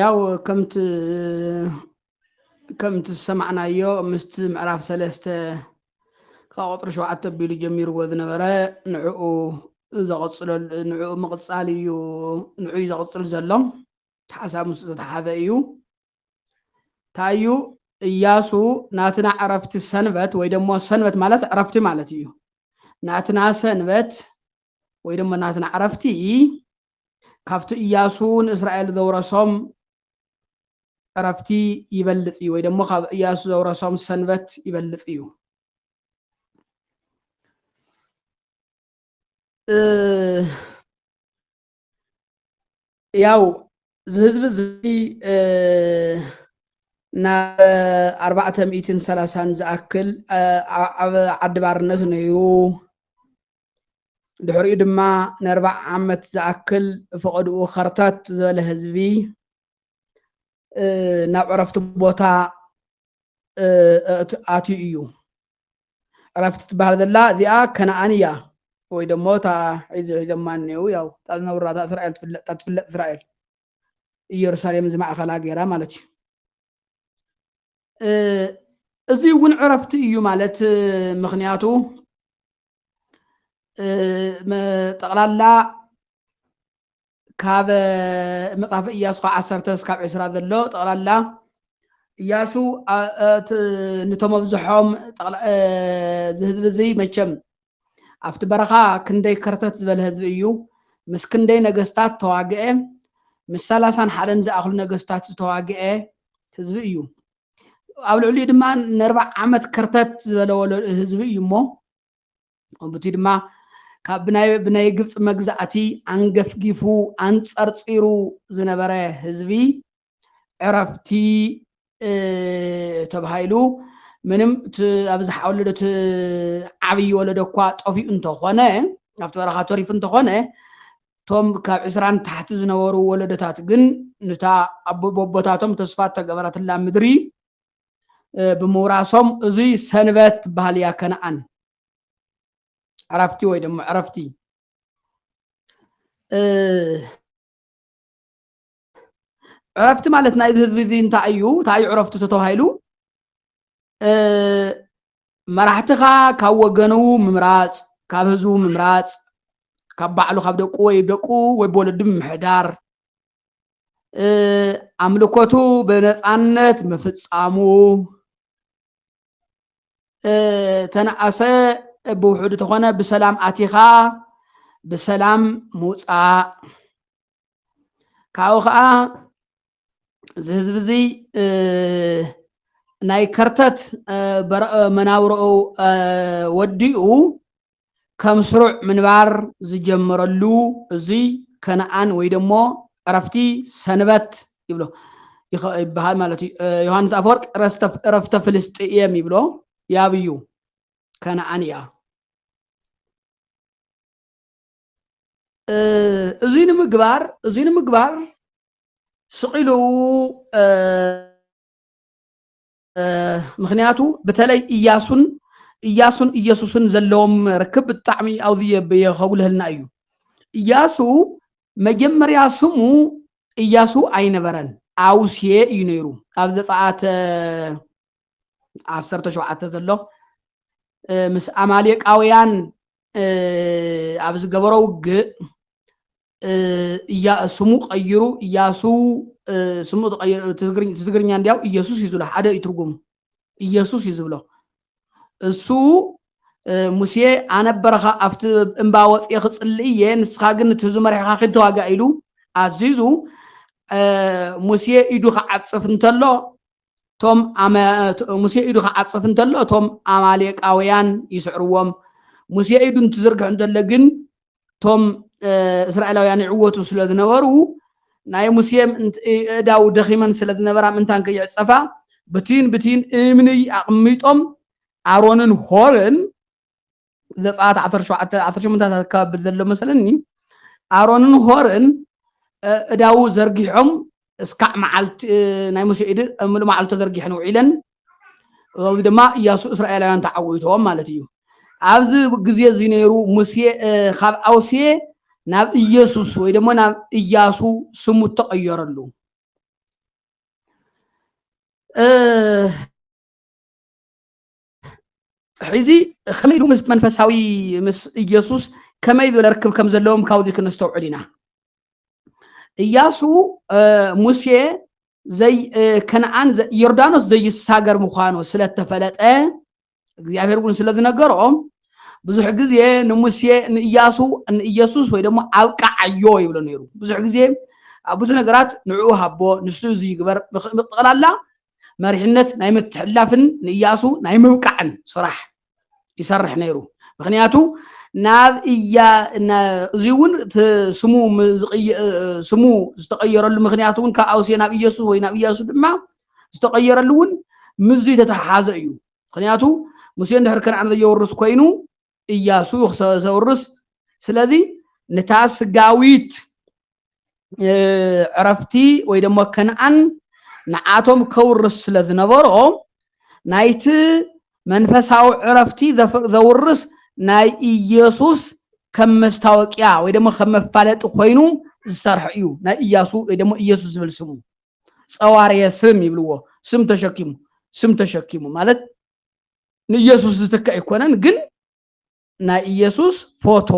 ያው ከምቲ ከምቲ ዝሰማዕናዮ ምስቲ ምዕራፍ ሰለስተ ካብ ቁፅሪ ሸውዓተ ኣቢሉ ጀሚርዎ ዝነበረ ንዕኡ ዘቕፅሎ ንዕኡ ምቕፃል እዩ ንዑ እዩ ዘቕፅል ዘሎ ሓሳብ ምስ ዝተተሓዘ እዩ እንታይ እዩ እያሱ ናትና ዕረፍቲ ሰንበት ወይ ደሞ ሰንበት ማለት ዕረፍቲ ማለት እዩ ናትና ሰንበት ወይ ደሞ ናትና ዕረፍቲ ካብቲ እያሱ ንእስራኤል ዘውረሶም ዕረፍቲ ይበልጽ እዩ ወይ ደሞ ካብ እያሱ ዘውረሶም ሰንበት ይበልጽ እዩ ያው እዚ ህዝቢ እዚ ናብ ኣርባዕተ ሚእትን ሰላሳን ዝኣክል ኣብ ዓዲ ባርነት ነይሩ ድሕሪኡ ድማ ንኣርባዕ ዓመት ዝኣክል ፈቐድኡ ከርተት ዝበለ ህዝቢ ናብ ዕረፍቲ ቦታ ኣትዩ እዩ ዕረፍቲ ትበሃል ዘላ እዚኣ ከነኣን እያ ወይ ደሞ እታ ሒዚ ሒዞማ እኒው ያው እታ ዝነብራ እታ እስራኤል ትፍለጥ ትፍለጥ እስራኤል ኢየሩሳሌም ዝማእኸላ ገይራ ማለት እዩ እዚ እውን ዕረፍቲ እዩ ማለት ምክንያቱ ጠቕላላ ካብ መጽሓፈ እያሱ ካብ ዓሰርተ ስካብ ዕስራ ዘሎ ጠቕላላ እያሱ ንቶም ኣብዝሖም እዚ ህዝቢ እዚ መቸም ኣብቲ በረኻ ክንደይ ከርተት ዝበለ ህዝቢ እዩ ምስ ክንደይ ነገስታት ተዋግአ ምስ ሰላሳን ሓደን ዝኣኽሉ ነገስታት ዝተዋግአ ህዝቢ እዩ ኣብ ልዕሊኡ ድማ ንርባዕ ዓመት ከርተት ዝበለ ህዝቢ እዩ እሞ ከምቲ ድማ ካብ ብናይ ግብፂ መግዛእቲ ኣንገፍጊፉ ኣንፀርፂሩ ዝነበረ ህዝቢ ዕረፍቲ ተባሂሉ ምንም ኣብዚ ወለዶ እቲ ዓብዪ ወለዶ እኳ ጠፊኡ እንተኾነ ኣብቲ በረኻ ተሪፉ እንተኾነ እቶም ካብ ዕስራ ንታሕቲ ዝነበሩ ወለዶታት ግን ንታ ኣቦቦቦታቶም ተስፋ እተገበረትላ ምድሪ ብምውራሶም እዙይ ሰንበት ትበሃል እያ ከነኣን ዕረፍቲ ወይ ድማ ዕረፍቲ ዕረፍቲ ማለት ናይዚ ህዝቢ እዚ እንታይ እዩ እንታይ እዩ ዕረፍቱ ተተባሂሉ መራሕትኻ ካብ ወገኑ ምምራፅ ካብ ህዝቡ ምምራፅ ካብ ባዕሉ ካብ ደቁ ወይ ደቁ ወይ ብወለዱ ምምሕዳር ኣምልኮቱ ብነፃነት ምፍፃሙ ተነኣሰ ብውሕዱ ተኾነ ብሰላም ኣቲኻ ብሰላም ምውፃእ ካብኡ ከዓ እዚ ህዝቢ እዚ ናይ ከርተት መናብሮኡ ወዲኡ ከም ስሩዕ ምንባር ዝጀመረሉ እዙይ ከነኣን ወይ ደሞ ዕረፍቲ ሰንበት ይብሎ ይበሃል ማለት እዩ ዮሃንስ ኣፈወርቅ እረፍተ ፍልስጥኤም ይብሎ ያብዩ ከነኣን እያ እዙይ ንምግባር እዙይ ንምግባር ስቂሉ ምክንያቱ ብተለይ እያሱን እያሱን እየሱስን ዘለዎም ርክብ ብጣዕሚ ኣብዚ የኸጉልህልና እዩ እያሱ መጀመርያ ስሙ እያሱ ኣይነበረን ኣውስየ እዩ ነይሩ ኣብ ዘፀኣት ዓሰርተ ሸውዓተ ዘሎ ምስ ኣማሌቃውያን ኣብ ዝገበሮ ውግእ እያ ስሙ ቀይሩ እያሱ ስሙ ተቀይሩ ትግርኛ እንዲያው ኢየሱስ እዩ ዝብሎ ሓደ እዩ ትርጉሙ ኢየሱስ እዩ ዝብሎ እሱ ሙሴ ኣነ በረኻ ኣብቲ እምባ ወፅየ ክፅሊ እየ ንስኻ ግን እቲ ህዝቢ መሪሕኻ ኪድ ተዋጋእ ኢሉ ኣዚዙ ሙሴ ኢዱ ክዓፅፍ እንተሎ እቶም ሙሴ ኢዱ ክዓጽፍ እንተሎ እቶም ኣማሌቃውያን ይስዕርዎም ሙሴ ኢዱ እንትዝርግሕ እንተሎ ግን እቶም እስራኤላውያን ይዕወቱ ስለ ዝነበሩ ናይ ሙሴ እዳው ደኺመን ስለ ዝነበራ ምንታን ከይዕጸፋ ብቲን ብቲን እምኒ ኣቕሚጦም ኣሮንን ሆርን ዘፀኣት ዓሰርተ ሸውዓተ ዓሰርተ ሸሞንተ ኣካባቢ ዘሎ መሰለኒ ኣሮንን ሆርን እዳዉ ዘርጊሖም እስካዕ መዓልቲ ናይ ሙሴ ኢድ ምሉ መዓልቲ ተዘርጊሐን ውዒለን እዚ ድማ እያሱ እስራኤላውያን ተዓዊቶም ማለት እዩ ኣብዚ ግዜ እዚ ነይሩ ሙሴ ካብ ኣውሴ ናብ ኢየሱስ ወይ ድማ ናብ እያሱ ስሙ ተቐየረሉ ሕዚ ከመይ ኢሉ ምስ መንፈሳዊ ምስ ኢየሱስ ከመይ ዝበለ ርክብ ከም ዘለዎም ካብዚ ክንስተውዕል ኢና እያሱ ሙሴ ዘይ ከነኣን ዮርዳኖስ ዘይሳገር ምዃኑ ስለ እተፈለጠ እግዚኣብሔር እውን ስለ ዝነገሮ ብዙሕ ግዜ ንሙሴ ንእያሱ ንኢየሱስ ወይ ደሞ ኣብቃዓዮ ይብሎ ነይሩ ብዙሕ ግዜ ኣብ ብዙሕ ነገራት ንዕኡ ሃቦ ንሱ እዚ ይግበር ብጠቕላላ መሪሕነት ናይ ምትሕልላፍን ንእያሱ ናይ ምብቃዕን ስራሕ ይሰርሕ ነይሩ ምክንያቱ ናብ እያ እዚ እውን ስሙ ስሙ ዝተቀየረሉ ምክንያት እውን ካብ ኣውሴ ናብ ኢየሱስ ወይ ናብ እያሱ ድማ ዝተቀየረሉ እውን ምዙይ ተተሓሓዘ እዩ ምክንያቱ ሙሴ እንድሕር ከነኣን ዘየወርስ ኮይኑ እያሱ ዘውርስ ስለዚ ንታ ስጋዊት ዕረፍቲ ወይ ደሞ ከነኣን ንዓቶም ከውርስ ስለ ዝነበሮ ናይቲ መንፈሳዊ ዕረፍቲ ዘውርስ ናይ ኢየሱስ ከም መስታወቅያ ወይ ደሞ ከም መፋለጢ ኮይኑ ዝሰርሐ እዩ ናይ እያሱ ወይ ደሞ ኢየሱስ ዝብል ስሙ ጸዋርየ ስም ይብልዎ ስም ተሸኪሙ ስም ተሸኪሙ ማለት ንኢየሱስ ዝትክእ ኣይኮነን ግን ናይ ኢየሱስ ፎቶ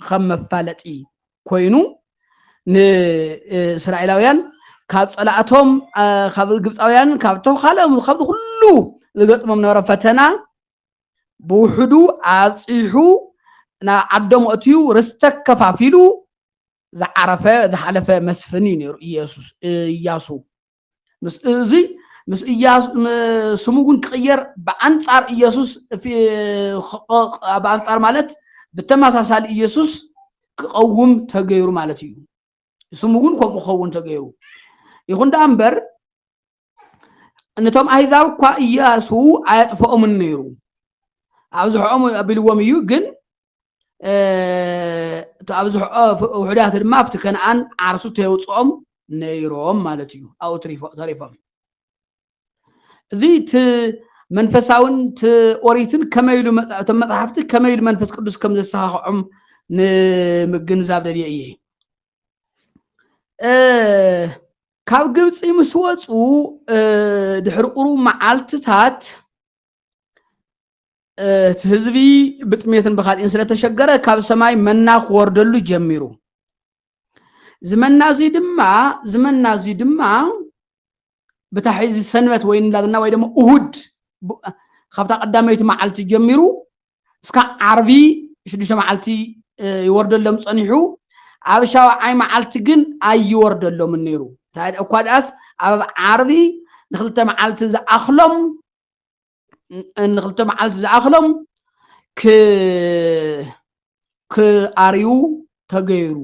ከም መፋለጢ ኮይኑ ንእስራኤላውያን ካብ ፀላእቶም ካብ ግብፃውያን ካብቶም ካልኦም ካብዚ ኩሉ ዝገጥሞም ነበረ ፈተና ብውሕዱ ኣብፂሑ ናብ ዓዶም ኣትዩ ርስተ ከፋፊሉ ዝዓረፈ ዝሓለፈ መስፍን እዩ ነይሩ ኢየሱስ ኢያሱ እዚ ምስ ስሙ እውን ክቕየር ብኣንጻር ኢየሱስ ብኣንጻር ማለት ብተመሳሳሊ ኢየሱስ ክቐውም ተገይሩ ማለት እዩ ስሙ እውን ከምኡ ክኸውን ተገይሩ ይኹን ደኣ እምበር ነቶም ኣህዛብ እኳ ኢያሱ ኣየጥፈኦምን ነይሩ ኣብዝሖኦም ኣቢልዎም እዩ ግን ኣብዝሕኦ ውሕዳት ድማ ኣብቲ ከነኣን ዓርሱ ተየውፅኦም ነይሮም ማለት እዩ ኣብኡ ተሪፎም እዚ እቲ መንፈሳውን እቲ ኦሪትን ከመይ ኢሉ እቶም መፅሓፍቲ ከመይ ኢሉ መንፈስ ቅዱስ ከም ዘሰኻኽዖም ንምግንዛብ ደልየ እየ ካብ ግብፂ ምስ ወፁ ድሕሪ ቁሩብ መዓልትታት እቲ ህዝቢ ብጥሜትን ብካልእን ስለተሸገረ ካብ ሰማይ መና ክወርደሉ ጀሚሩ ዝመና እዙይ ድማ ዝመና እዙይ ድማ ብታ ሕዚ ሰንበት ወይ እንዳትና ወይ ድማ እሁድ ካብታ ቀዳመይቲ መዓልቲ ጀሚሩ እስካዕ ዓርቢ ሽዱሽተ መዓልቲ ይወርደሎም ጸኒሑ፣ ኣብ ሻውዓይ መዓልቲ ግን ኣይወርደሎምን ነይሩ። እንታይ እኳ ደኣስ ኣብ ዓርቢ ንክልተ መዓልቲ ዝኣኽሎም ንክልተ መዓልቲ ዝኣኽሎም ክኣርዩ ተገይሩ።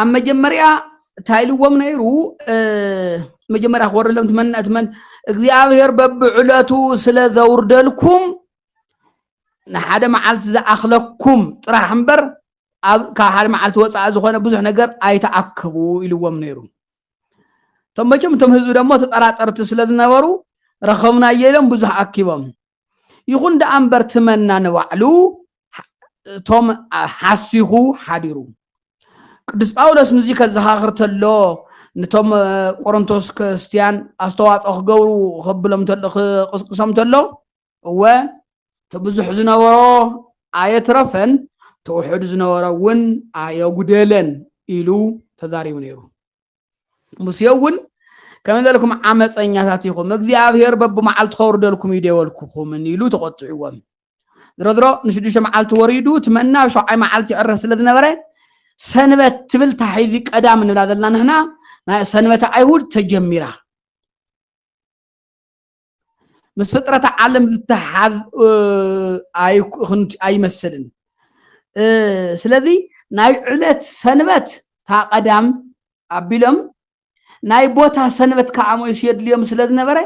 ኣብ መጀመርያ እንታይ ኢልዎም ነይሩ መጀመርያ ክወርደሎም ትመን ትመን እግዚኣብሔር በብዕለቱ ስለ ዘውርደልኩም ንሓደ መዓልቲ ዝኣኽለኩም ጥራሕ እምበር ኣብ ካብ ሓደ መዓልቲ ወፃኢ ዝኾነ ብዙሕ ነገር ኣይተኣከቡ ኢልዎም ነይሩ እቶም መቸም እቶም ህዝቢ ደሞ ተጠራጠርቲ ስለ ዝነበሩ ረኸብናዮ ኢሎም ብዙሕ ኣኪቦም ይኹን ደኣ እምበር ትመና ንባዕሉ እቶም ሓሲኹ ሓዲሩ ቅዱስ ጳውሎስ ንዚ ከዘኻኽር ተሎ ንቶም ቆሮንቶስ ክርስትያን ኣስተዋፅኦ ክገብሩ ከብሎም ተሎ ክቕስቅሶም ተሎ እወ እቲ ብዙሕ ዝነበሮ ኣየትረፈን ተውሕድ ዝነበሮ እውን ኣየጉደለን ኢሉ ተዛሪቡ ነይሩ ሙሴ እውን ከመይ በልኩም ዓመፀኛታት ኢኹም እግዚኣብሄር በብመዓልቲ ከውርደልኩም እዩ ደወልኩኹምን ኢሉ ተቆጢዕዎም ድሮ ድሮ ንሽዱሽተ መዓልቲ ወሪዱ እቲ መና ሸውዓይ መዓልቲ ይዕረፍ ስለ ዝነበረ ሰንበት ትብል ታሒዚ ቀዳም ንብላ ዘለና ንሕና ናይ ሰንበተ ኣይሁድ ተጀሚራ ምስ ፍጥረተ ዓለም ዝተሓዝ ኣይመስልን ስለዚ ናይ ዕለት ሰንበት ታቐዳም ኣቢሎም ናይ ቦታ ሰንበት ከዓ ሞይሱ የድልዮም ስለ ዝነበረ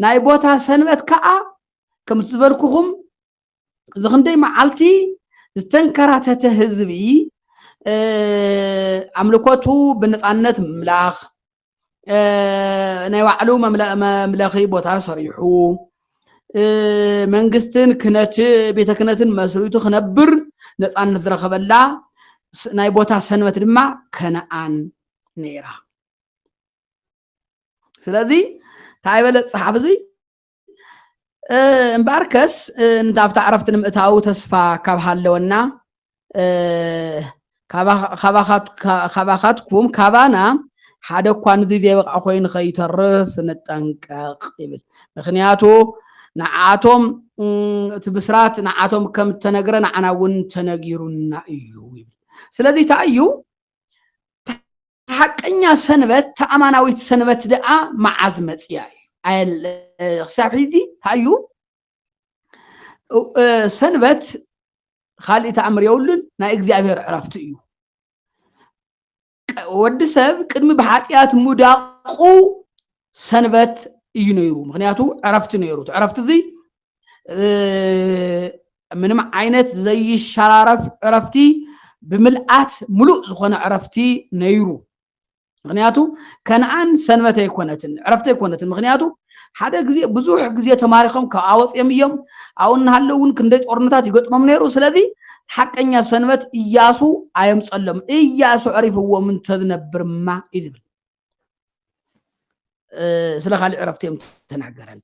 ናይ ቦታ ሰንበት ከዓ ከምቲ ዝበልኩኹም እዚ ክንደይ መዓልቲ ዝተንከራተተ ህዝቢ ኣምልኮቱ ብነፃነት ምምላኽ ናይ ባዕሉ መምለኺ ቦታ ሰሪሑ መንግስትን ክነት ቤተ ክነትን መስሪቱ ክነብር ነፃነት ዝረኸበላ ናይ ቦታ ሰንበት ድማ ከነኣን ነይራ ስለዚ እንታይ በለ ፀሓፍ እዚ እምበኣርከስ ኣብታ ዕረፍቲ ንምእታው ተስፋ ካብ ሃለወና ካባኻትኩም ካባና ሓደ እኳ ንዙ ዘይበቕዓ ኮይኑ ከይተርፍ ንጠንቀቕ ይብል ምክንያቱ ንዓቶም እቲ ብስራት ንዓቶም ከም ተነግረ ንዓና እውን ተነጊሩና እዩ ይብል ስለዚ እንታይ እዩ ሓቀኛ ሰንበት ተኣማናዊት ሰንበት ደኣ መዓዝ መፅያ እዩ ክሳብ ሕዚ ታዩ ሰንበት ካልእ ተኣምር የብሉን ናይ እግዚኣብሔር ዕረፍቲ እዩ ወዲ ሰብ ቅድሚ ብሓጢኣት ሙዳቁ ሰንበት እዩ ነይሩ። ምክንያቱ ዕረፍቲ ነይሩ። እቲ ዕረፍቲ እዚ ምንም ዓይነት ዘይሸራረፍ ዕረፍቲ ብምልኣት ሙሉእ ዝኾነ ዕረፍቲ ነይሩ። ምክንያቱ ከነኣን ሰንበት ኣይኮነትን ዕረፍቲ ኣይኮነትን። ምክንያቱ ሓደ ግዜ ብዙሕ ግዜ ተማሪኾም ካብኣ ወፅዮም እዮም። ኣብኡ እናሃለው እውን ክንደይ ጦርነታት ይገጥሞም ነይሩ። ስለዚ ሓቀኛ ሰንበት እያሱ ኣየምፀሎም። እያሱ ዕሪፍዎም እንተዝነብርማ እዩ ዝብል ስለ ካልእ ዕረፍቲ እዮም ተናገረን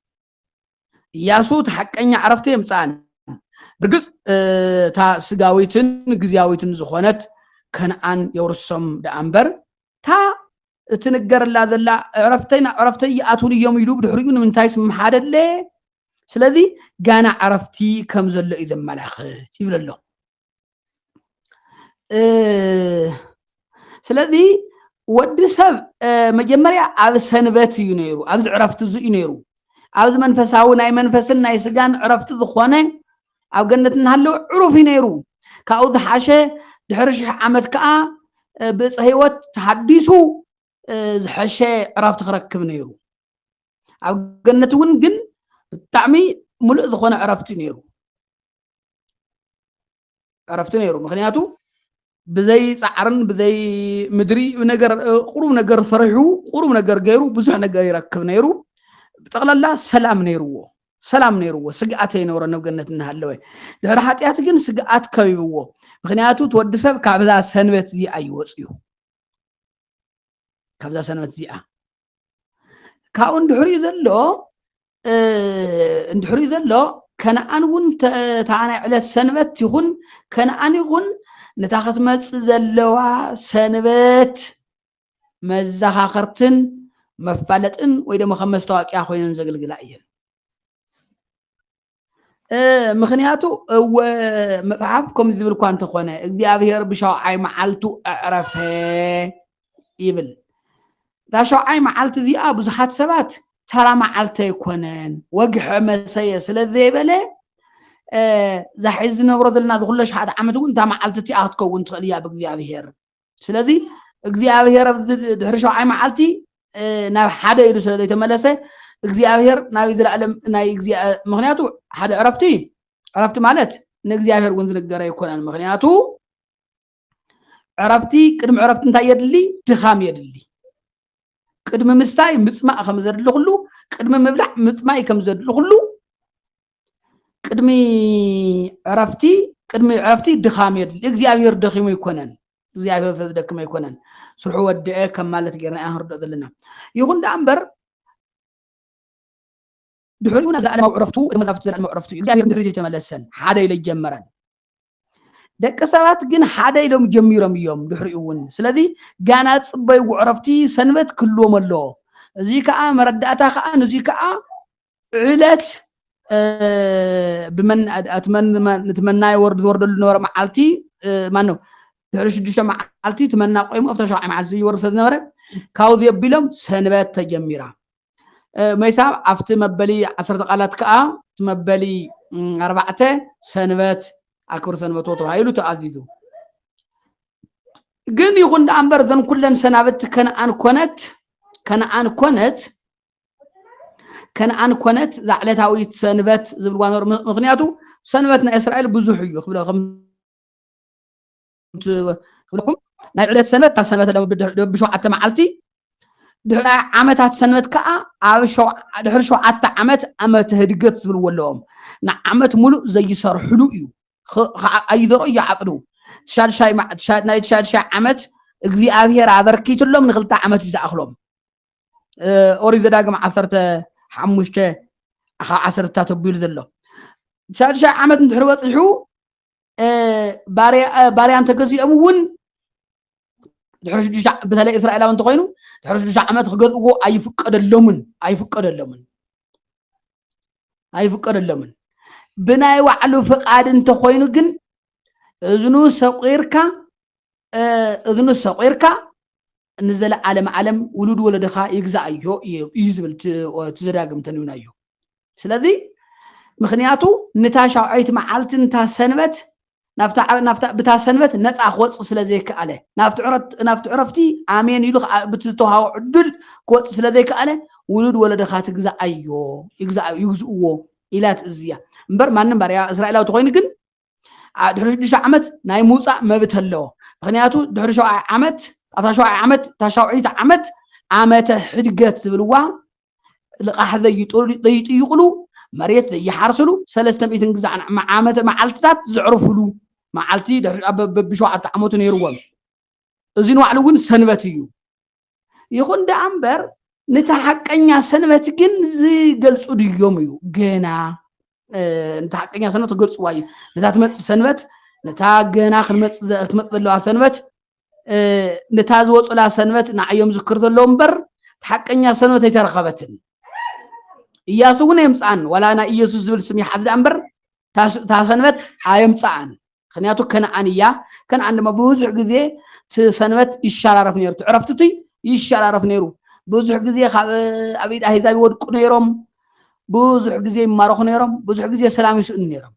እያሱ እቲ ሓቀኛ ዕረፍቲ የምፅኣን ብርግፅ እታ ስጋዊትን ግዜያዊትን ዝኾነት ከነኣን የውርሶም ደኣ እምበር እታ እትንገረላ ዘላ ዕረፍተይ ናብ ዕረፍተይ ይኣትውን እዮም ኢሉ ብድሕሪኡ ንምንታይ ስምሓደለ ስለዚ ጋና ዕረፍቲ ከም ዘሎ እዩ ዘመላኽት ይብል ኣሎ ስለዚ ወዲ ሰብ መጀመርያ ኣብ ሰንበት እዩ ነይሩ ኣብዚ ዕረፍቲ እዚ እዩ ነይሩ ኣብዚ መንፈሳዊ ናይ መንፈስን ናይ ስጋን ዕረፍቲ ዝኾነ ኣብ ገነት እናሃለወ ዕሩፍ እዩ ነይሩ ካብኡ ዝሓሸ ድሕሪ ሽሕ ዓመት ከዓ ብእፀ ህይወት ተሃዲሱ ዝሐሸ ዕረፍቲ ክረክብ ነይሩ ኣብ ገነት እውን ግን ብጣዕሚ ሙሉእ ዝኾነ ዕረፍቲ ነይሩ ዕረፍቲ ነይሩ ምክንያቱ ብዘይ ፃዕርን ብዘይ ምድሪ ነገር ቁሩብ ነገር ሰሪሑ ቁሩብ ነገር ገይሩ ብዙሕ ነገር ይረክብ ነይሩ ጠቕላላ ሰላም ነይርዎ ሰላም ነይርዎ ስግኣት ኣይነበሮ ነብገነት እናሃለወ ድሕሪ ሓጢኣት ግን ስግኣት ከቢብዎ ምክንያቱ እቲ ወዲ ሰብ ካብዛ ሰንበት እዚኣ ይወፅዩ ካብዛ ሰንበት እዚኣ ካብኡ እንድሕሪኡ ዘሎ እንድሕሪኡ ዘሎ ከነኣን እውን እታ ናይ ዕለት ሰንበት ይኹን ከነኣን ይኹን ነታ ክትመፅእ ዘለዋ ሰንበት መዘኻኸርትን መፋለጥን ወይ ድማ ከም መስታወቂያ ኮይነን ዘገልግላ እየን ምክንያቱ እወ መጽሓፍ ከም ዝብል እኳ እንተኾነ እግዚኣብሔር ብሻውዓይ መዓልቱ ኣዕረፈ ይብል እዛ ሻውዓይ መዓልቲ እዚኣ ብዙሓት ሰባት ተራ መዓልቲ ኣይኮነን ወግሐ መሰየ ስለ ዘይበለ እዛ ሕዚ ዝነብሮ ዘለና ዝኩለሽ ሓደ ዓመት እውን እታ መዓልቲ እቲኣ ክትከውን ትኽእል እያ ብእግዚኣብሔር ስለዚ እግዚኣብሔር ኣብዚ ድሕሪ ሸውዓይ መዓልቲ ናብ ሓደ ኢሉ ስለ ዘይተመለሰ እግዚኣብሔር ናብ ዘለኣለም ናይ ምክንያቱ ሓደ ዕረፍቲ ዕረፍቲ ማለት ንእግዚኣብሔር እውን ዝንገረ ኣይኮነን ምክንያቱ ዕረፍቲ ቅድሚ ዕረፍቲ እንታይ የድሊ ድኻም የድሊ ቅድሚ ምስታይ ምፅማእ ከም ዘድሊ ኩሉ ቅድሚ ምብላዕ ምፅማይ ከም ዘድሊ ኩሉ ቅድሚ ዕረፍቲ ቅድሚ ዕረፍቲ ድኻም የድሊ እግዚኣብሔር ደኺሙ ኣይኮነን እግዚኣብሔር ስለዝደክም ኣይኮነን ስርሑ ወድአ ከም ማለት ጌርና ኢና ክንርድኦ ዘለና ይኹን ደኣ እምበር ድሕሪኡ ናብ ዘለኣለማዊ ዕረፍቱ መዛፍቱ ዘለኣለማዊ ዕረፍቱ እዩ እግዚኣብሔር ድሕሪት ኣይተመለሰን ሓደ ኢለ ጀመረን ደቂ ሰባት ግን ሓደ ኢሎም ጀሚሮም እዮም ድሕሪኡ እውን ስለዚ ጋና ፅበይ ዕረፍቲ ሰንበት ክህልዎም ኣለዎ እዚ ከዓ መረዳእታ ከዓ ንዚ ከዓ ዕለት ብመና ወርድ ዝወርደሉ ነበረ መዓልቲ ማን ነው ድሕሪ ሽዱሽተ መዓልቲ ትመና ቆይሙ ኣብታ ሸውዓይ መዓልቲ ዝወርድ ስለዝነበረ ካብዚ ኣቢሎም ሰንበት ተጀሚራ መይሳብ ኣብቲ መበሊ ዓሰርተ ቃላት ከዓ እቲ መበሊ ኣርባዕተ ሰንበት ኣክብር ሰንበቶ ተባሂሉ ተኣዚዙ ግን ይኹን ደኣ እምበር እዘን ኩለን ሰናብቲ ከነኣን ኮነት ከነኣን ኮነት ከነኣን ኮነት እዛ ዕለታዊት ሰንበት ዝብልዋ ምክንያቱ ሰንበት ናይ እስራኤል ብዙሕ እዩ ክብለ ክብለኩም ናይ ዕለት ሰንበት ካብ ሰንበት ሎም ድሕሪ ሸውዓተ መዓልቲ ድሕሪ ዓመታት ሰንበት ከዓ ኣብ ድሕሪ ሸውዓተ ዓመት ዓመተ ህድገት ዝብልዎ ኣለዎም ንዓመት ሙሉእ ዘይሰርሕሉ እዩ ኣይዘርኡ ይዓፅዱ ትሻድሻይ ናይ ትሻድሻይ ዓመት እግዚኣብሔር ኣበርኪትሎም ንክልተ ዓመት እዩ ዝኣኽሎም ኦሪት ዘዳግም ዓሰርተ ሓሙሽተ ካብ ዓሰርተ ተቢሉ ዘሎ ትሻድሻይ ዓመት እንድሕሪ በፂሑ ባርያ እንተገዚኦም እውን ድሕሪ ሽዱሽተ በተለይ እስራኤላዊ እንተኮይኑ ድሕሪ ሽዱሽተ ዓመት ክገዝእዎ ኣይፍቀደሎምን ኣይፍቀደሎምን ኣይፍቀደሎምን ብናይ ባዕሉ ፍቃድ እንተኮይኑ ግን እዝኑ ሰቂርካ እዝኑ ሰቂርካ ንዘለዓለም ዓለም ውሉድ ወለድኻ ይግዛኣዮ እዩ ዝብል እቲ ዘዳግም ተንቢናዮ ስለዚ ምክንያቱ ንታ ሻውዐይቲ መዓልቲ ንታ ሰንበት ብታ ሰንበት ነፃ ክወፅእ ስለ ዘይከኣለ ናብቲ ዕረፍቲ ኣሜን ኢሉ ብቲ ዝተውሃቦ ዕድል ክወፅእ ስለ ዘይከኣለ ውሉድ ወለድኻ ትግዛኣዮ ይግዝእዎ ኢላ ትእዝዝ እያ እምበር ማንም ባርያ እስራኤላዊ ተኮይኑ ግን ድሕሪ ሽዱሽተ ዓመት ናይ ምውፃእ መብት ኣለዎ ምክንያቱ ድሕሪ ሸውዓይ ዓመት ኣብታ ሸውዓይ ዓመት እታ ሻውዒት ዓመት ዓመተ ሕድገት ዝብልዋ ልቃሕ ዘይጥይቁሉ መሬት ዘይሓርስሉ ሰለስተ ሚእትን ግዛዕ ዓመተ መዓልትታት ዘዕርፍሉ መዓልቲ በብሸውዓተ ዓመቱ ነይርዎም እዚ ንባዕሉ እውን ሰንበት እዩ ይኹን ደኣ እምበር ነታ ሓቀኛ ሰንበት ግን ዝገልፁ ድዮም እዩ ገና ነታ ሓቀኛ ሰንበት ክገልፅዋ እዩ ነታ ትመፅእ ሰንበት ነታ ገና ክትመፅእ ዘለዋ ሰንበት ነታ ዝወፁላ ሰንበት ንዓዮም ዝክር ዘለዎ እምበር ሓቀኛ ሰንበት ኣይተረኸበትን እያሱ እውን ኣየምፅኣን ዋላ ናይ ኢየሱስ ዝብል ስም ይሓዝ ደኣ እምበር እታ ሰንበት ኣየምፅኣን ምክንያቱ ከነኣን እያ ከነኣን ድማ ብዙሕ ግዜ እቲ ሰንበት ይሸራረፍ ነይሩ እቲ ዕረፍቲ እቱይ ይሸራረፍ ነይሩ ብዙሕ ግዜ ካብ ኣብ ኢድ ኣህዛብ ይወድቁ ነይሮም ብዙሕ ግዜ ይማረኹ ነይሮም ብዙሕ ግዜ ሰላም ይስእኑ ነይሮም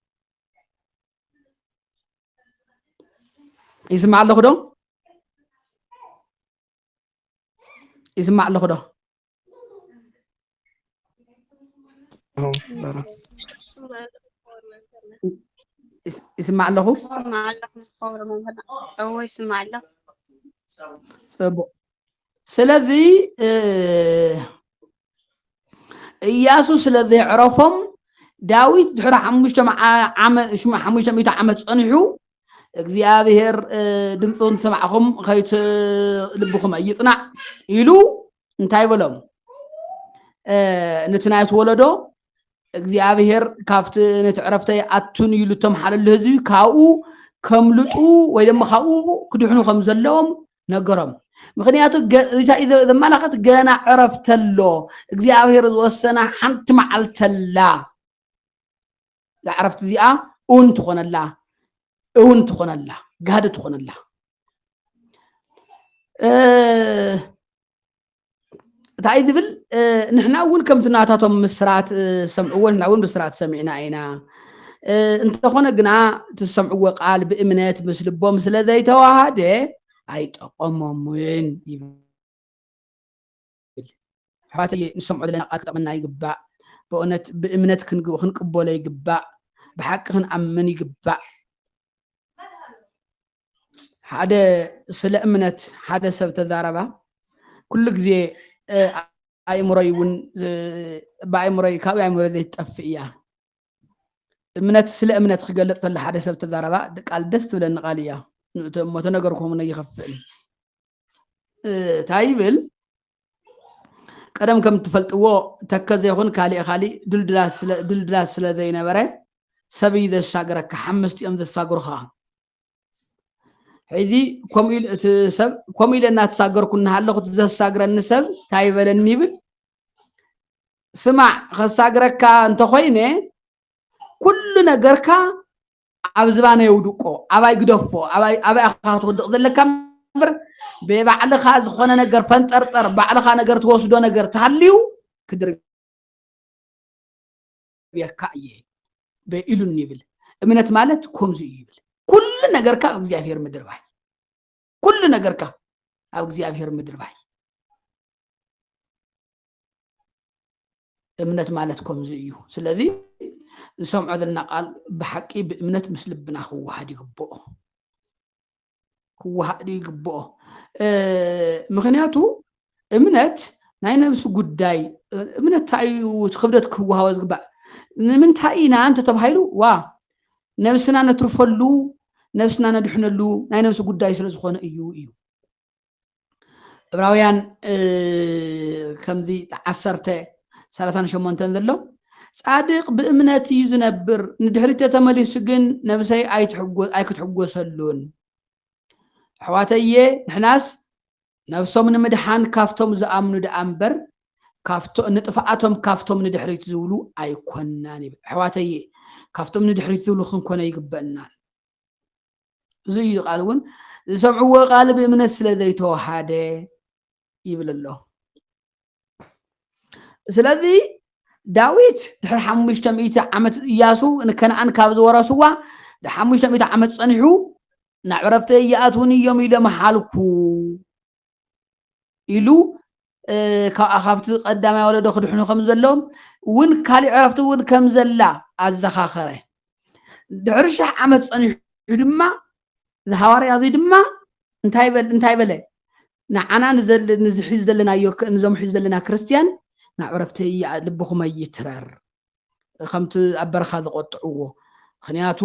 ይስማዕ ኣለኹ ዶ ይስማዕ ኣለኹ ዶ ይስማዕ ኣለኹ ፅቡቅ ስለዚ እያሱ ስለ ዘዕረፎም ዳዊት ድሕሪ ሓሙሽተ ሚእቲ ዓመት ፀኒሑ እግዚኣብሔር ድምፁ እንትሰማዕኹም ከይት ልብኹም ኣይፅናዕ ኢሉ እንታይ በሎም ነቲ ናይቲ ወለዶ እግዚኣብሄር ካብቲ ነቲ ዕረፍተይ ኣቱን ኢሉ እተምሓለሉ ህዝቢ ካብኡ ከምልጡ ወይ ድማ ካብኡ ክድሕኑ ከም ዘለዎም ነገሮም ምክንያቱ እንታይ እዩ ዘመላኸት ገና ዕረፍተሎ እግዚኣብሄር ዝወሰና ሓንቲ መዓልተላ እዛ ዕረፍቲ እዚኣ እውን ትኾነላ እውን ትኾነላ ጋህዲ ትኾነላ እንታይ ዝብል ንሕና እውን ከምቲ ናታቶም ምስራት ዝሰምዕዎ ንሕና እውን ምስራት ሰሚዕና ኢና እንተኾነ ግና እቲ ዝሰምዕዎ ቃል ብእምነት ምስ ልቦም ስለ ዘይተዋሃደ ኣይጠቐሞምን ይብል ይብል። ኣሕዋተየ ንሰምዖ ዘለና ቃል ክጠቕመና ይግባእ። በእውነት ብእምነት ክንቅበሎ ይግባእ። ብሓቂ ክንኣምን ይግባእ። ሓደ ስለ እምነት ሓደ ሰብ ተዛረባ ኩሉ ግዜ ኣእምሮይ እውን ብኣእምሮይ ካብኡ ኣእምሮ ዘይትጠፍእ እያ እምነት ስለ እምነት ክገልፅ ተሎ ሓደ ሰብ ተዛረባ ቃል ደስ ትብለኒ ቃል እያ እሞ ተነገርኩም ይኸፍእ እንታይ ይብል ቀደም ከም እትፈልጥዎ ተከዘ ይኹን ካሊእ ካሊእ ድልድላት ስለ ዘይነበረ ሰብ እዩ ዘሻግረካ ሓምስቲ እዮም ዘሳግሩኻ ሕዚ ከምኡ ኢሉ እቲ ሰብ ከምኡ ኢለ እናተሳገርኩ እናሃለኹ እቲ ዘሳግረኒ ሰብ እንታይ ይበለኒ ይብል ስማዕ ከሳግረካ እንተኾይነ ኩሉ ነገርካ ኣብ ዝባኑ የውድቆ ኣባይ ግደፎ ኣባይ ኣባይ ኢኻ ክትወድቕ ዘለካ እምበር ብባዕልኻ ዝኾነ ነገር ፈንጠርጠር ባዕልኻ ነገር ትወስዶ ነገር ተሃልዩ ክድርብየካ እየ በኢሉን ይብል እምነት ማለት ከምዚ እዩ ይብል ኩሉ ነገርካ ኣብ እግዚኣብሔር ምድርባይ ኩሉ ነገርካ ኣብ እግዚኣብሔር ምድርባይ እምነት ማለት ከምዚ እዩ ስለዚ ዝሰምዖ ዘለና ቃል ብሓቂ ብእምነት ምስ ልብና ክወሃድ ይግብኦ ክወሃድ ይግብኦ ምክንያቱ እምነት ናይ ነብሲ ጉዳይ እምነት እንታይ እዩ ክብደት ክወሃቦ ዝግባእ ንምንታይ ኢና እንተተባሂሉ ዋ ነብስና ነትርፈሉ ነብስና ነድሕነሉ ናይ ነብሲ ጉዳይ ስለ ዝኾነ እዩ እዩ እብራውያን ከምዚ ዓሰርተ ሰላሳን ሸሞንተን ዘሎ ጻድቅ ብእምነት እዩ ዝነብር ንድሕሪት ተመሊሱ ግን ነብሰይ ኣይክትሕጎሰሉን ኣሕዋተየ ንሕናስ ነብሶም ንምድሓን ካብቶም ዝኣምኑ ደኣ እምበር ካብቶ ንጥፍኣቶም ካብቶም ንድሕሪት ዝብሉ ኣይኮናን ይብል። ኣሕዋተየ ካብቶም ንድሕሪት ዝብሉ ክንኮነ ይግበእናን። እዚ እዩ ቃል እውን ዝሰምዕዎ ቃል ብእምነት ስለ ዘይተዋሃደ ይብል ኣሎ። ስለዚ ዳዊት ድሕሪ ሓሙሽተ ሚእቲ ዓመት እያሱ ንከነኣን ካብ ዝወረስዋ ንሓሙሽተ ሚእቲ ዓመት ፀኒሑ ናብ ዕረፍቲ እያኣትውን እዮም ኢሎም ሓልኩ ኢሉ ካብ ኣኻፍቲ ቀዳማይ ወለዶ ክድሕኑ ከም ዘለዎም እውን ካሊእ ዕረፍቲ እውን ከም ዘላ ኣዘኻኸረ ድሕሪ ሽሕ ዓመት ፀኒሑ ድማ ዝሃዋርያ እዚ ድማ እንታይ በለ ንዓና ንዘል ንዚ ሒዚ ዘለናዮ ንዞም ሒዚ ዘለና ክርስትያን ናብ ዕረፍቲ እያ ልብኹም ኣይትረር ከምቲ ኣብ በረኻ ዝቆጥዕዎ ምክንያቱ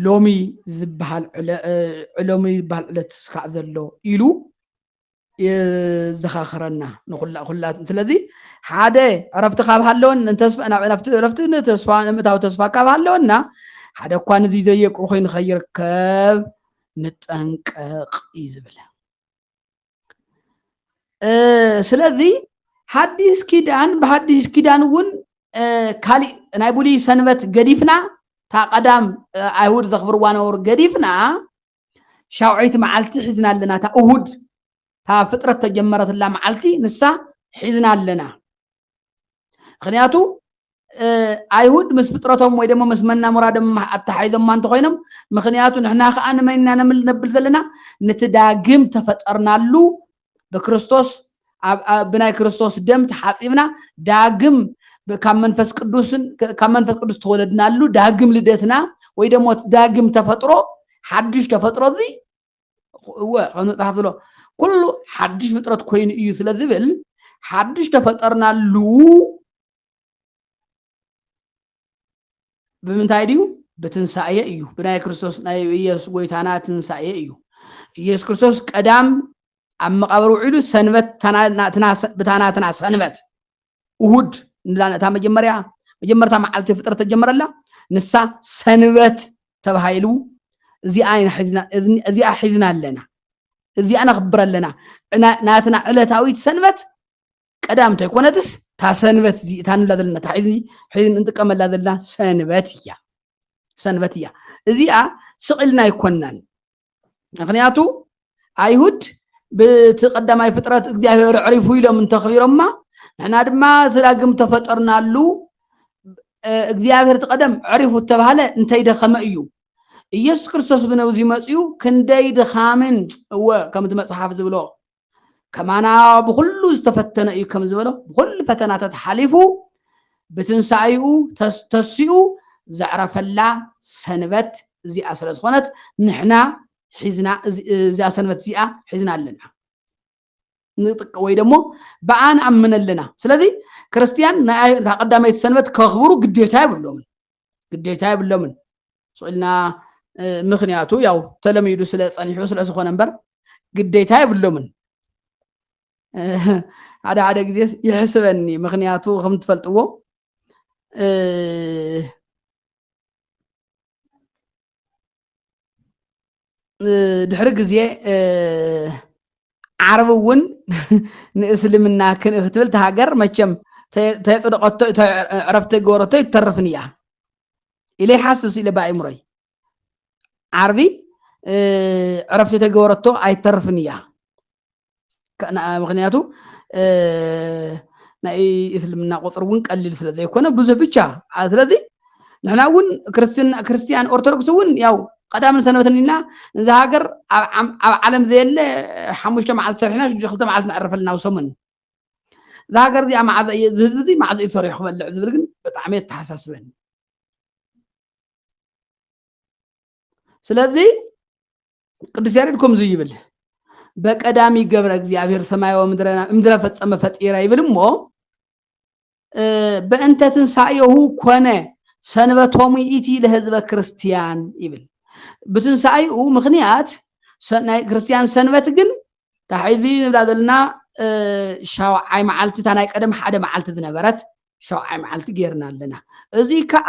ሎሚ ዝበሃል ዕለ ሎሚ ዝበሃል ዕለት ስካዕ ዘሎ ኢሉ የዘኻኽረና ንኩላ ኩላ ስለዚ ሓደ ዕረፍቲ ካብ ሃለወን ዕረፍቲ ንተስፋ ንምእታዊ ተስፋ ካብ ሃለወና ሓደ እኳ ንዚ ዘየቁ ኮይኑ ከይርከብ ንጠንቀቕ እዩ ዝብል ስለዚ ሓዲስ ኪዳን ብሓዲስ ኪዳን እውን ካሊእ ናይ ብሉይ ሰንበት ገዲፍና እታ ቀዳም ኣይሁድ ዘኽብርዋ ነበሩ ገዲፍና ሻውዐይቲ መዓልቲ ሒዝና ኣለና እታ እሁድ እታ ፍጥረት ተጀመረትላ መዓልቲ ንሳ ሒዝና ኣለና ምክንያቱ ኣይሁድ ምስ ፍጥረቶም ወይ ደሞ ምስ መናሙራዶም ኣተሓሒዞማ እንተኮይኖም ምክንያቱ ንሕና ከዓ ንመንና ነብል ዘለና ነቲ ዳግም ተፈጠርናሉ ብክርስቶስ ብናይ ክርስቶስ ደም ተሓጺብና ዳግም ካብ መንፈስ ቅዱስን ካብ መንፈስ ቅዱስ ተወለድናሉ ዳግም ልደትና ወይ ደሞ ዳግም ተፈጥሮ ሓድሽ ተፈጥሮ እዚ እወ ከም መጽሓፍ ዝብሎ ኩሉ ሓድሽ ፍጥረት ኮይኑ እዩ ስለ ዝብል ሓድሽ ተፈጠርናሉ ብምንታይ ድዩ ብትንሳኤ እዩ ብናይ ክርስቶስ ናይ ኢየሱስ ጎይታና ትንሳኤ እዩ ኢየሱስ ክርስቶስ ቀዳም ኣብ መቃብር ውዒሉ ሰንበት ብታናትና ሰንበት እሁድ ንላ ነታ መጀመርያ መጀመርታ መዓልቲ ፍጥረት ተጀመረላ ንሳ ሰንበት ተባሂሉ እዚኣ እዚኣ ሒዝና ኣለና እዚኣ ነኽብር ኣለና ናትና ዕለታዊት ሰንበት ቀዳም እንተይኮነትስ እታ ሰንበት እዚ እታ ንብላ ዘለና እታ ሕዚ ሕዚ እንጥቀመላ ዘለና ሰንበት እያ ሰንበት እያ እዚኣ ስቕልና ኣይኮናን ምክንያቱ ኣይሁድ ብቲ ቀዳማይ ፍጥረት እግዚኣብሔር ዕሪፉ ኢሎም እንተኽቢሮማ ንሕና ድማ እቲ ዳግም ተፈጠርናሉ እግዚኣብሔር እቲ ቀደም ዕሪፉ እተባሃለ እንተይደኸመ እዩ ኢየሱስ ክርስቶስ ብነብዚ መፅኡ ክንደይ ድኻምን እወ ከምቲ መፅሓፍ ዝብሎ ከማና ብኹሉ ዝተፈተነ እዩ ከም ዝበሎ ብኹሉ ፈተናታት ሓሊፉ ብትንሳኤኡ ተሲኡ ዘዕረፈላ ሰንበት እዚኣ ስለ ዝኾነት ንሕና ሒዝና እዚኣ ሰንበት እዚኣ ሒዝና ኣለና ንጥቅ ወይ ደሞ ብኣ ንኣምን ኣለና ስለዚ ክርስትያን እታ ቀዳመይቲ ሰንበት ከኽብሩ ግዴታ የብሎምን ግዴታ የብሎምን ስኢልና ምክንያቱ ያው ተለሚዱ ስለ ፀኒሑ ስለ ዝኾነ እምበር ግዴታ የብሎምን ሓደ ሓደ ግዜ ይሕስበኒ ምክንያቱ ከም ትፈልጥዎ ድሕሪ ግዜ ዓረብ እውን ንእስልምና ክትብል እቲ ሃገር መቸም ተየፅደቐቶ ዕረፍቲ ገበረቶ ይተርፍን እያ ኢለ ይሓስብ ስኢለ ብኣእምሮይ ዓርቢ ዕረፍቲ ተገበረቶ ኣይተርፍን እያ ምክንያቱ ናይ እስልምና ቁፅሪ እውን ቀሊል ስለ ዘይኮነ ብዙሕ ብቻ ስለዚ ንሕና እውን ክርስትያን ኦርቶዶክስ እውን ያው ቀዳምን ሰንበትን ኢና እዛ ሃገር ኣብ ዓለም ዘየለ ሓሙሽተ መዓልቲ ሰሪሕና ሽዱሽተ ክልተ መዓልቲ ነዕርፈልና ኣብ ሰሙን እዛ ሃገር እዚኣ መዓዘ እዩ እዚ ህዝቢ እዚ መዓዘ እዩ ሰሪሑ ክበልዕ ዝብል ግን ብጣዕሚ የተሓሳስበኒ ስለዚ ቅዱስ ያሬድ ከምዙ ይብል በቀዳሚ ገብረ እግዚኣብሔር ሰማያዊ ምድረና እምድረ ፈጸመ ፈጢረ ይብል እሞ በእንተ ትንሣኤሁ ኮነ ሰንበቶሙ ኢቲ ለህዝበ ክርስቲያን ይብል ብትንሣኤኡ ምክንያት ናይ ክርስቲያን ሰንበት ግን ታሕዚ ንብላ ዘለና ሻውዓይ መዓልቲ እታ ናይ ቀደም ሓደ መዓልቲ ዝነበረት ሻውዓይ መዓልቲ ጌርና ኣለና እዚ ከዓ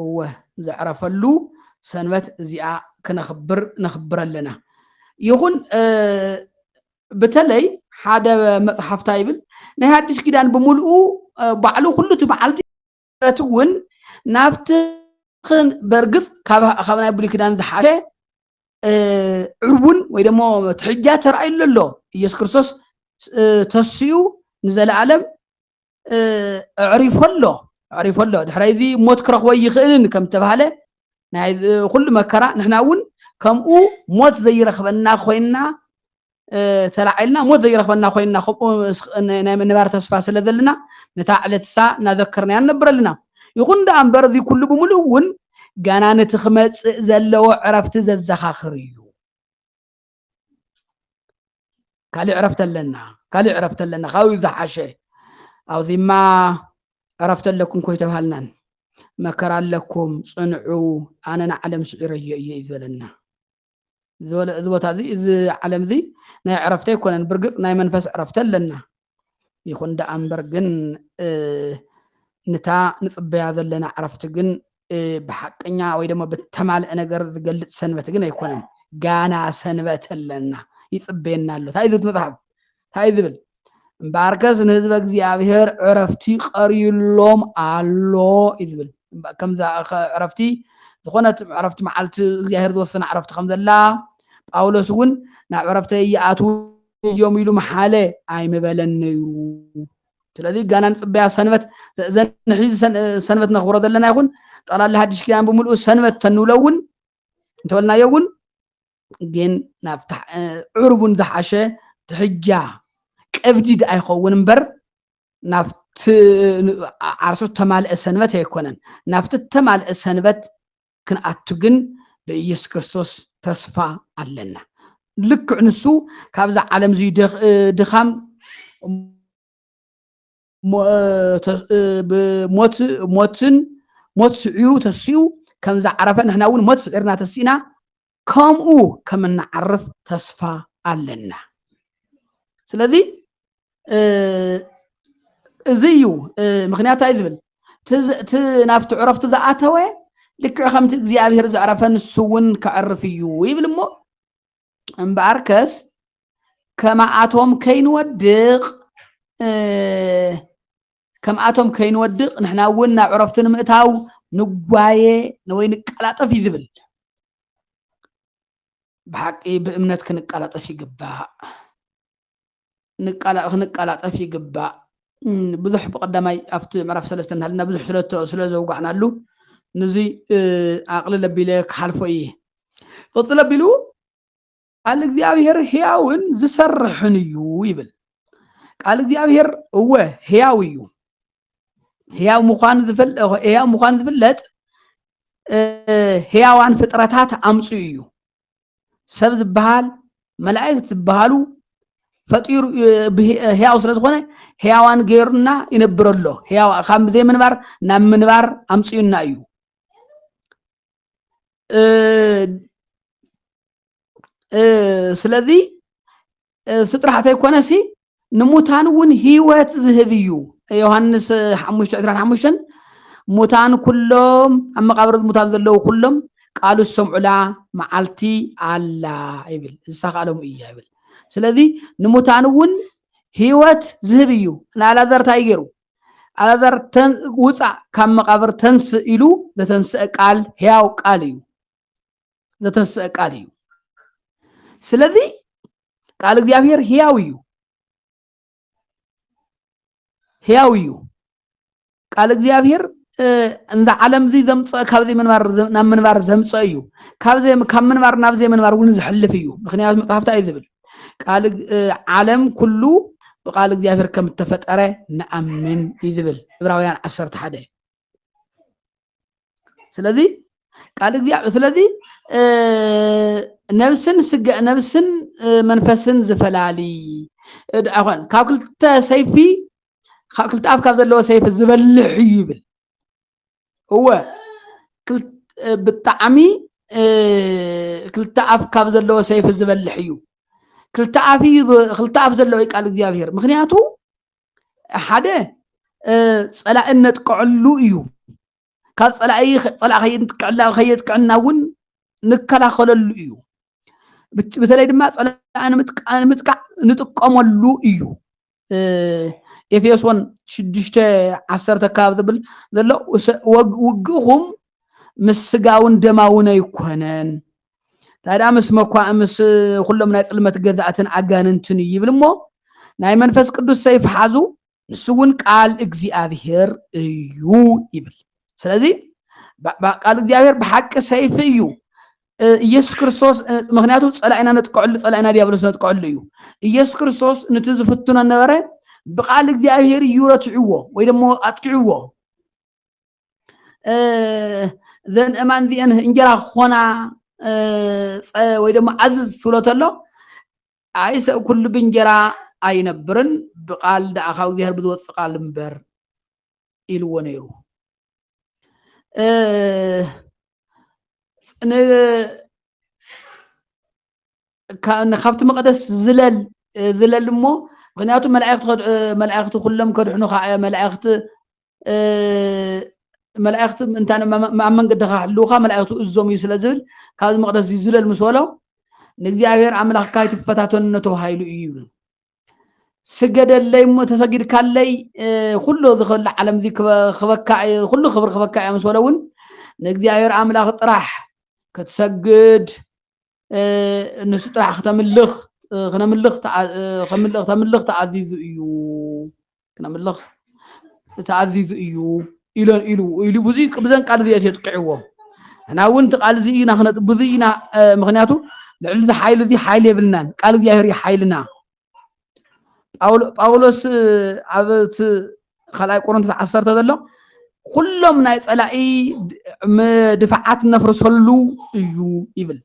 እወ ዘዕረፈሉ ሰንበት እዚኣ ክነኽብር ነኽብር ኣለና ይኹን በተለይ ሓደ መፅሓፍታ ይብል ናይ ሓድሽ ኪዳን ብምልኡ ባዕሉ ኩሉ እቲ በዓልቲ እቲ እውን ናብቲ በርግፅ ካብ ናይ ብሉይ ኪዳን ዝሓሸ ዕቡን ወይ ደሞ ትሕጃ ተራእዩሉ ኣሎ ኢየሱስ ክርስቶስ ተስኡ ንዘለኣለም ኣዕሪፎ ኣሎ ኣዕሪፎ ኣሎ ድሕራይ እዚ ሞት ክረኽቦ ይኽእልን ከም ተባህለ ናይ ኩሉ መከራ ንሕና እውን ከምኡ ሞት ዘይረኽበና ኮይና ተላዒልና ሞት ዘይረኽበና ኮይና ከምኡ ናይ ምንባር ተስፋ ስለ ዘለና ነታ ዕለት እሳ እናዘከርናያ ንነብር ኣለና ይኹን ደኣ እምበር እዚ ኩሉ ብምሉእ እውን ገና ነቲ ክመፅእ ዘለዎ ዕረፍቲ ዘዘኻኽር እዩ ካልእ ዕረፍቲ ኣለና ካልእ ዕረፍቲ ኣለና ካብኡ ዝሓሸ ኣብዚማ ዕረፍቲ ኣለኩም ኮይ ተባሃልናን መከራ ኣለኩም ፅንዑ ኣነ ንዓለም ስዒረዮ እየ እዩ ዝበለና እዚ ቦታ እዚ እዚ ዓለም እዚ ናይ ዕረፍቲ ኣይኮነን ብርግፅ ናይ መንፈስ ዕረፍቲ ኣለና ይኹን ደኣ እምበር ግን ንታ ንጽበያ ዘለና ዕረፍቲ ግን ብሓቀኛ ወይ ደሞ ብተማልአ ነገር ዝገልጽ ሰንበት ግን ኣይኮነን ጋና ሰንበት ኣለና ይጽበየና ኣሎ እንታይ ዝብል መጽሓፍ እንታይ ዝብል እምበኣርከስ ንህዝበ እግዚኣብሄር ዕረፍቲ ቀርዩሎም ኣሎ እዩ ዝብል ከምዛ ዕረፍቲ ዝኾነት ዕረፍቲ መዓልቲ እግዚኣብሄር ዝወሰነ ዕረፍቲ ከም ዘላ ጳውሎስ እውን ናብ ዕረፍተይ ይኣትዉ እዮም ኢሉ ምሓለ ኣይምበለን ነይሩ ስለዚ ጋና ንፅበያ ሰንበት ዘንሒ ሰንበት ነኽብሮ ዘለና ይኹን ጠቕላላ ሓድሽ ኪዳን ብምልኡ ሰንበት ተንብሎ እውን እንተበልናዮ እውን ግን ናብ ዕርቡን ዝሓሸ ትሕጃ ቀብዲድ ኣይኸውን እምበር ናብቲ ዓርሱ ተማልአ ሰንበት ኣይኮነን ናብቲ ተማልአ ሰንበት ክንኣቱ ግን ብኢየሱስ ክርስቶስ ተስፋ ኣለና። ልክዕ ንሱ ካብዛ ዓለም እዙይ ድኻም ሞትን ሞት ስዒሩ ተሲኡ ከምዛ ዓረፈ ንሕና እውን ሞት ስዒርና ተሲእና ከምኡ ከም እንዓርፍ ተስፋ ኣለና ስለዚ እዚ እዩ ምክንያት ኣይ ዝብል እቲ ናብቲ ዕረፍቲ ዝኣተወ ልክዕ ከምቲ እግዚኣብሄር ዘዕረፈ ንሱ እውን ከዕርፍ እዩ ይብል እሞ እምበኣር ከስ ከማኣቶም ከይንወድቕ ከምኣቶም ከይንወድቅ ንሕና እውን ናብ ዕረፍቱ ንምእታው ንጓየ ወይ ንቀላጠፍ እዩ ዝብል ብሓቂ ብእምነት ክንቀላጠፍ ይግባእ ክንቀላጠፍ ይግባእ ብዙሕ ብቀዳማይ ኣብቲ ምዕራፍ ሰለስተ እናሃለና ብዙሕ ስለ ዘውጋዕናሉ ንዙይ ኣቕልል ኣቢለ ክሓልፎ እየ ቅፅል ኣቢሉ ቃል እግዚኣብሔር ሕያውን ዝሰርሕን እዩ ይብል ቃል እግዚኣብሔር እወ ሕያው እዩ ሕያው ምዃኑ ሕያው ምዃኑ ዝፍለጥ ሕያዋን ፍጥረታት ኣምፅኡ እዩ ሰብ ዝበሃል መላእክት ዝበሃሉ ፈጢሩ ሕያው ስለ ዝኾነ ሕያዋን ገይሩና ይነብር ኣሎ ሕያው ካብ ብዘይ ምንባር ናብ ምንባር ኣምፅኡና እዩ ስለዚ እሱ ጥራሕ ተይኮነሲ ንሙታን እውን ህይወት ዝህብ እዩ ዮሃንስ ሓሙሽተ ዕስራን ሓሙሽተን ሙታን ኩሎም ኣብ መቃብር ሙታን ዘለዉ ኩሎም ቃሉ ዝሰምዑላ መዓልቲ ኣላ ይብል ዝሳካሎም እያ ይብል ስለዚ ንሙታን እውን ህይወት ዝህብ እዩ ንኣላዛር እንታይ ገይሩ ኣላዛር ውፃእ ካብ መቃብር ተንስእ ኢሉ ዘተንስአ ቃል ህያው ቃል እዩ ዘተንስአ ቃል እዩ ስለዚ ቃል እግዚኣብሔር ህያው እዩ ህያው እዩ ቃል እግዚኣብሔር እንዛ ዓለም እዚ ዘምፅእ ካብ ዘይምንባር ናብ ምንባር ዘምፅእ እዩ ካብ ምንባር ናብ ዘይምንባር እውን ዝሕልፍ እዩ ምክንያቱ መፅሓፍታ እዩ ዝብል ቃል ዓለም ኩሉ ብቃል እግዚኣብሔር ከም እተፈጠረ ንኣምን እዩ ዝብል ዕብራውያን ዓሰርተ ሓደ ስለዚ ቃል እግዚኣብሔር ስለዚ ነብስን ስጋ ነብስን መንፈስን ዝፈላሊ ኣኾን ካብ ክልተ ሰይፊ ካብ ክልተ ኣፍ ካብ ዘለዎ ሰይፊ ዝበልሕ እዩ ይብል እወ ብጣዕሚ ክልተ ኣፍ ካብ ዘለዎ ሰይፊ ዝበልሕ እዩ ክልተ ኣፍ እዩ ክልተ ኣፍ ዘለዎ ቃል እግዚኣብሔር ምክንያቱ ሓደ ፀላኢ እነጥቅዐሉ እዩ ካብ ፀላኢ ፀላኢ ከየጥቅዕና ከየጥቅዕና እውን ንከላኸለሉ እዩ በተለይ ድማ ፀላኢ ንምጥቃዕ ንጥቀመሉ እዩ ኤፌሶን ሽዱሽተ ዓሰርተ ካብ ዝብል ዘሎ ውግእኹም ምስ ስጋውን ደማውን ኣይኮነን ታዲያ ምስ መኳእ ምስ ኩሎም ናይ ጽልመት ገዛእትን ኣጋንንትን እዩ ይብል እሞ ናይ መንፈስ ቅዱስ ሰይፍ ሓዙ ንሱ እውን ቃል እግዚኣብሔር እዩ ይብል ስለዚ ቃል እግዚኣብሔር ብሓቂ ሰይፊ እዩ ኢየሱስ ክርስቶስ ምክንያቱ ፀላኢና ነጥቀዕሉ ፀላኢና ዲያብሎስ ነጥቀዕሉ እዩ ኢየሱስ ክርስቶስ ነቲ ዝፍትኖ ነበረ ብቃል እግዚኣብሔር እዩ ረትዕዎ ወይ ደሞ ኣጥቂዕዎ ዘን እማን እዚአን እንጀራ ክኾና ወይ ደሞ ኣዝዝ ትብሎ ተሎ ኣይ ሰብ ኩሉ ብእንጀራ ኣይነብርን ብቃል ደኣ ካብ እግዚኣብሔር ብዝወፅእ ቃል እምበር ኢልዎ ነይሩ ካብቲ መቕደስ ዝለል ዝለል እሞ ምክንያቱ መላእኽቲ ኩሎም ከድሕኑኻ እዮ መላእኽቲ መላእኽቲ እንታ ኣብ መንገድኻ ክሕልውኻ መላእኽቲ እዞም እዩ ስለ ዝብል ካብዚ መቕደስ ዝለል ምስ በሎ ንእግዚኣብሔር ኣምላኽካ ኣይትፈታተኑ ተባሂሉ እዩ ይብሉ ስገደለይ እሞ ተሰጊድካለይ ኩሉ እዚ ከሉ ዓለም እዚ ክበካ ኩሉ ክብሪ ክበካ እያ ምስ በለ እውን ንእግዚኣብሔር ኣምላኽ ጥራሕ ክትሰግድ ንሱ ጥራሕ ክተምልኽ ክነምልኽ ተምልኽ ተኣዚዙ እዩ ክነምልኽ ተኣዚዙ እዩ ኢሉ ኢሉ ኢሉ ብዙ ብዘን ቃል እዚኦ የጥቅዕዎ እና እውን እቲ ቃል እዚ ኢና ክነጥ ብዙ ኢና ምክንያቱ ልዕሊ እዚ ሓይሊ እዚ ሓይሊ የብልናን ቃል እግዚኣብሔር ሓይልና ጳውሎስ ኣብ እቲ ካልኣይ ቆሮንቶስ ዓሰርተ ዘሎ ኩሎም ናይ ፀላኢ ድፋዓት ነፍርሰሉ እዩ ይብል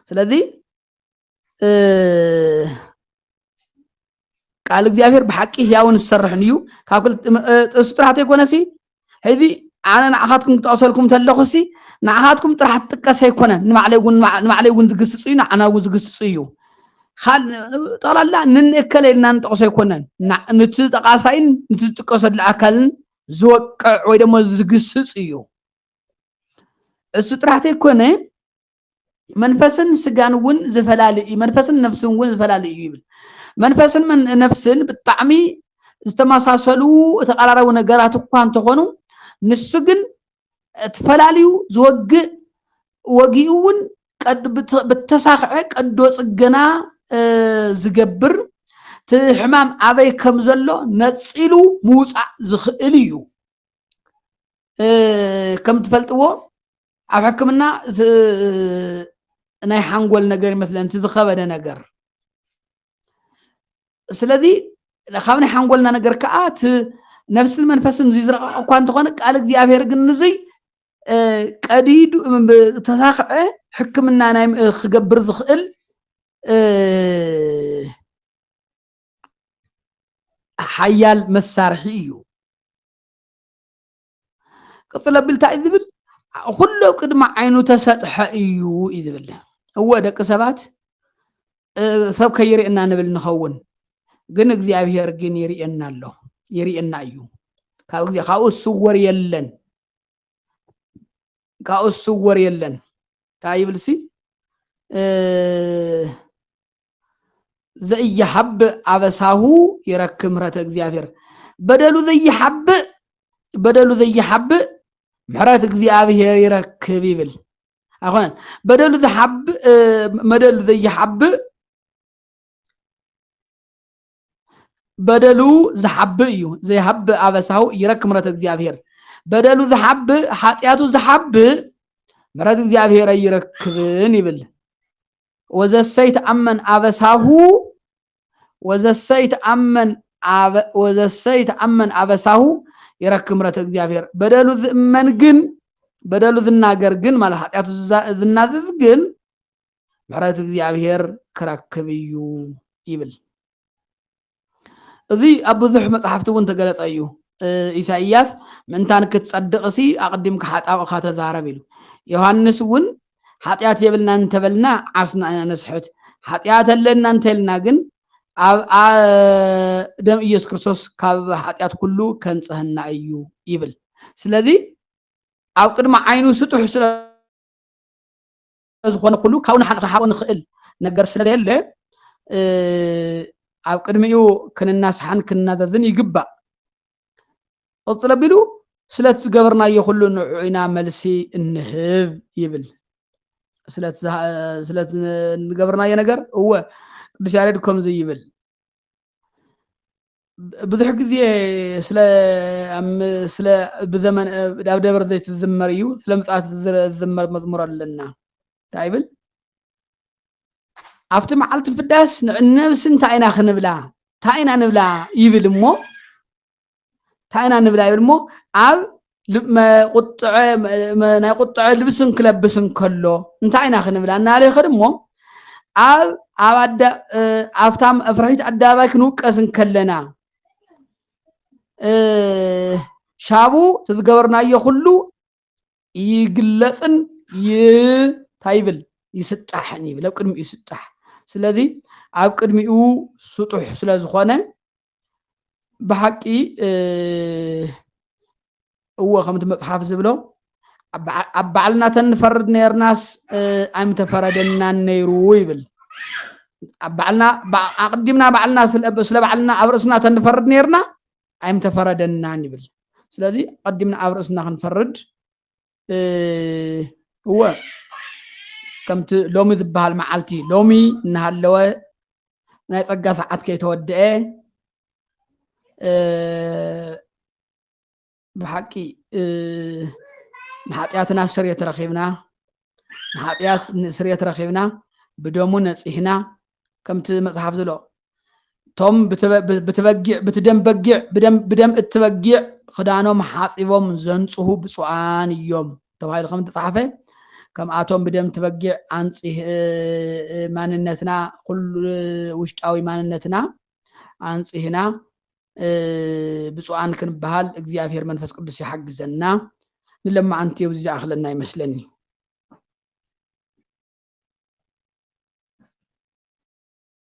ስለዚ ቃል እግዚኣብሔር ብሓቂ ህያውን ዝሰርሕን እዩ ካብ ጥቅሱ ጥራሕ ተይኮነሲ ሕዚ ኣነ ንዓኻትኩም ክጠቕሰልኩም እንተለኹሲ ንዓኻትኩም ጥራሕ ትጥቀስ ኣይኮነን ንባዕለይ እውን ንባዕለይ እውን ዝግስፅ እዩ ንዓና እውን ዝግስፅ እዩ ጠቕላላ ንንእከለ ኢልና ንጠቕሶ ኣይኮነን ንቲ ጠቓሳይን ንቲ ዝጥቀሰሉ ኣካልን ዝወቅዕ ወይ ደሞ ዝግስፅ እዩ እሱ ጥራሕ ተይኮነ መንፈስን ስጋን እውን ዝፈላለ እዩ መንፈስን ነፍስን እውን ዝፈላለ እዩ ይብል መንፈስን ነፍስን ብጣዕሚ ዝተመሳሰሉ ተቀራራዊ ነገራት እኳ እንተኾኑ ንሱ ግን ተፈላልዩ ዝወግእ ወጊኡ እውን ብተሳክዐ ቀዶ ፅገና ዝገብር እቲ ሕማም ኣበይ ከም ዘሎ ነፂሉ ምውፃእ ዝኽእል እዩ ከም ትፈልጥዎ ኣብ ሕክምና ናይ ሓንጎል ነገር ይመስለን እቲ ዝኸበደ ነገር ስለዚ ካብ ናይ ሓንጎልና ነገር ከዓ እቲ ነፍስን መንፈስን እዙይ ዝረቐቐ እኳ እንተኾነ ቃል እግዚኣብሔር ግን ንዙይ ቀዲዱ ተሳኽዐ ሕክምና ናይ ክገብር ዝኽእል ሓያል መሳርሒ እዩ ቅፅል ኣቢሉ እንታይ እዩ ዝብል ኩሎ ቅድሚ ዓይኑ ተሰጥሐ እዩ እዩ ዝብል እወ ደቂ ሰባት ሰብ ከይርእየና ንብል ንኸውን ግን እግዚኣብሄር ግን ይርእየና ኣሎ ይርእየና እዩ ካብ ግዜ ካብኡ ዝስወር የለን ካብኡ ዝስወር የለን እንታይ ይብል ሲ ዘኢይሓብእ ኣበሳሁ ይረክብ ምሕረተ እግዚኣብሔር በደሉ ዘይሓብእ በደሉ ዘይሓብእ ምሕረት እግዚኣብሔር ይረክብ ይብል ኣይኮነን በደሉ ዝሓብእ መደሉ ዘይሓብእ በደሉ ዝሓብእ እዩ ዘይሃብእ ኣበሳሁ ይረክ ምረት እግዚኣብሔር በደሉ ዝሓብእ ሓጢኣቱ ዝሓብእ ምረት እግዚኣብሔር ኣይረክብን ይብል ወዘሰይ ተኣመን ኣበሳሁ ወዘሰይ ተኣመን ወዘሰይ ተኣመን ኣበሳሁ ይረክ ምረት እግዚኣብሔር በደሉ ዝእመን ግን በደሉ ዝናገር ግን ማለት ሓጢኣቱ ዝናዘዝ ግን ምሕረት እግዚኣብሔር ክረክብ እዩ ይብል። እዚ ኣብ ብዙሕ መጽሓፍቲ እውን ተገለጸ እዩ። ኢሳይያስ ምእንታን ክትጸድቕሲ ኣቕዲምካ ሓጣውእኻ ተዛረብ ኢሉ። ዮሃንስ እውን ሓጢኣት የብልና እንተበልና ዓርስና ኢና ነስሕት፣ ሓጢኣት ኣለና እንተልና ግን ደም ኢየሱስ ክርስቶስ ካብ ኃጢኣት ኩሉ ከንጽህና እዩ ይብል ስለዚ ኣብ ቅድሚ ዓይኑ ስጡሕ ስለ ዝኾነ ኩሉ ካብኡ ንሓቂ ክሓቦ ንኽእል ነገር ስለዘየለ ኣብ ቅድሚኡ ክንናስሓን ክንናዘዝን ይግባእ ቅፅል ኣቢሉ ስለቲ ዝገበርናዮ ኩሉ ንዕዑ ኢና መልሲ እንህብ ይብል ስለቲ ዝገበርናዮ ነገር እወ ቅዱስ ያሬድ ከምዚ ይብል ብዙሕ ግዜ ስለ ስለ ብዘመን ኣብ ደብረ ዘይት ዝዝመር እዩ ስለ ምጽኣት ዝዝመር መዝሙር ኣለና እንታይ ይብል ኣብቲ መዓልቲ ፍዳስ ንነብሲ እንታይ ኢና ክንብላ እንታይ ኢና ንብላ ይብል እሞ እንታይ ኢና ንብላ ይብል እሞ ኣብ ናይ ቁጥዐ ልብስን ክለብስ እንከሎ እንታይ ኢና ክንብላ እናለ ይኸድ እሞ ኣብ ኣብታ መፍርሒት ኣደባባይ ክንውቀስ እንከለና ሻቡ ዝገበርናዮ ኩሉ ይግለፅን እንታይ ይብል ይስጣሕን ይብል ኣብ ቅድሚኡ ይስጣሕ ስለዚ ኣብ ቅድሚኡ ስጡሕ ስለ ዝኾነ ብሓቂ እዎ ከምቲ መፅሓፍ ዝብሎ ኣብ ባዕልና ተንፈርድ ነርናስ ኣይምተፈረደናን ነይሩ ይብል ኣብ ባዕልና ኣቅዲምና ባዕልና ስለ ባዕልና ኣብ ርእስና ተንፈርድ ነርና ኣይምተፈረደናን ይብል ስለዚ ቀዲምና ኣብ ርእስና ክንፈርድ እወ ከምቲ ሎሚ ዝበሃል መዓልቲ ሎሚ እናሃለወ ናይ ፀጋ ሰዓት ከይተወድአ ብሓቂ ንሓጢኣትና ስርየት ረኺብና ንሓጢኣት ስርየት ረኺብና ብደሙ ነፂሕና ከምቲ መፅሓፍ ዝሎ እቶም ብትበጊዕ ብትደም በጊዕ ብደም ብደም እትበጊዕ ክዳኖም ሓፂቦም ዘንፅሁ ብፁዓን እዮም ተባሂሉ ከም ተፃሓፈ ከምኣቶም ብደም ትበጊዕ ኣንፂህ ማንነትና ኩሉ ውሽጣዊ ማንነትና ኣንፂህና ብፁዓን ክንበሃል እግዚኣብሔር መንፈስ ቅዱስ ይሓግዘና ንለማዓንቲ እዚ ዝኣኽለና ይመስለኒ